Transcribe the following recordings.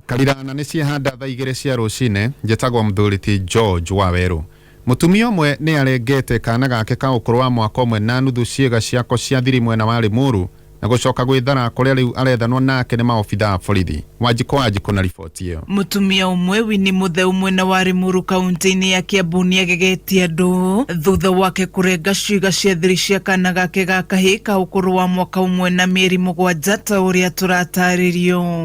Karira na nĩ ciehanda thaa igĩrĩ cia rũcinĩ njĩtagwo Mthuriti George Waweru. Mũtumia ũmwe nĩ arengete kaana gake ka ũkũrũ wa mwaka ũmwe na nuthu ciĩga ciako cia thiri mwena wa Limuru na gũcoka gwĩthara kũrĩa rĩu arethanwo nake nĩ maobithaa a borithi. Wanjikũ Wanjikũ na riboti ĩyo. Mũtumia ũmwe Winnie Mũtheu mwena wa Limuru kaũntĩ-inĩ ya Kiambu nĩagegetie andũ thutha wake kũrenga ciĩga cia thiri cia kaana gake ga kahĩĩ ka ũkũrũ wa mwaka ũmwe na mĩeri mũgwanja ta ũrĩa tũratarĩrio.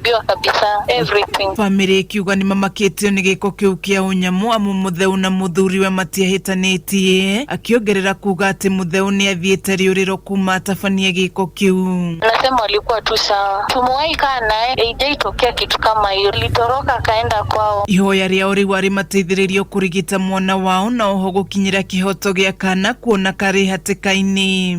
Ndio kabisa, everything. bamĩrĩ ĩkiuga nĩ mamakĩtio nĩ gĩko kĩu kĩa ũnyamũ amu mũtheu na mũthuriwe matiahĩtanĩtie akĩongerera kuga atĩ mũtheu nĩ athiĩte rĩũrĩro kuma atabanie gĩko kĩu Nasema walikuwa tu sawa, tumewahi kaa naye, haijaitokea kitu kama hiyo. Alitoroka akaenda kwao. ihoya rĩao rĩu arĩ mateithĩrĩrio kũrigita mwana wao na oho gũkinyĩra kĩhoto gĩa kana kuona karĩ hatĩka-inĩ